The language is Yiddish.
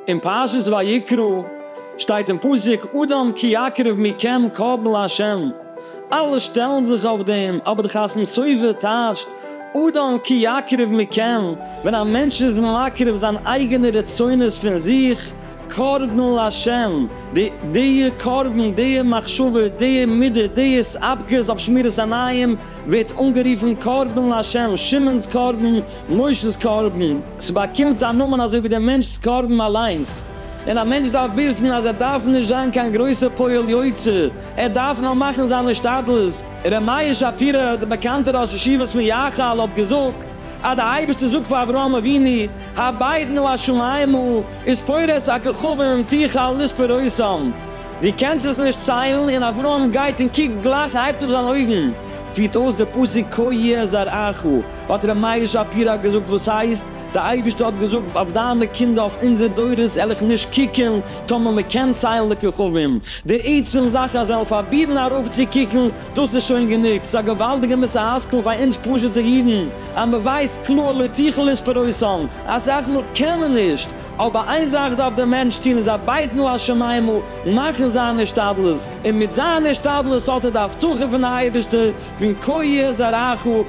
אין פרשת ויקרא שטייט אין פסוק אדם כי יקרב מכם קרב לה', אלע שטעלן זיך אויף דעם, אבער די חתם סופר טייטשט אדם כי יקרב מכם, ווען א מענטש איז מקרב זיין אייגענע רצונות פון זיך, קרבן להשם, די דיע קרבן, דיע מחשבה, דיע מידע, דיעס אפגעס אויף שמירת עיניים, ווערט אנגערופן קרבן להשם, שמעון'ס קרבן, מוישע'ס קרבן, ס'באקומט א נאמען אזוי ווי דער מענטש'ס קרבן אליינס. און א מענטש דארף וויסן אז ער דארף נישט זיין קיין גרויסע פועל יוצא, ער דארף נאר מאכן זיין השתדלות. ר' מאיר שפירא, דער באקאנטער ראש ישיבת מי יחל האט געזאגט, אז די אייבערשטער זאגט פאר אברהם אבינו הבעידנו השמיימה איז פורס א כוכבים תוכל לספור אותם דו קענסט עס נישט ציילן און אברהם גייט און קוקט גלייך הייבט אויף זיין אויגן פירט אויס די פסוק כה יהיה זרעך האט ר' מאיר שפירא געזאגט וואס הייסט די אייבערשטער האט געזאגט אויף דיינע קינדער אויף אונזער דורות על איך נישט קוקן טאמער מען קען ציילן די כוכבים די עצם זאך אז זיי וועלן פארבירן ארויף צו קוקן דאס איז שוין גענוג צו א געוואלדיגע מוסר השכל פאר אונז פשוט'ע אידן, אז מען ווייסט קלאר לא תוכל לספורם, אז סך הכל קען מען נישט, אבער איין זאך דארף דער מענטש טון איז ארבייטן לו השמים'ל, מאכן זיין השתדלות, און מיט זיין השתדלות האט ער די הבטחה פון אייבערשטער פון כה יהיה זרעך,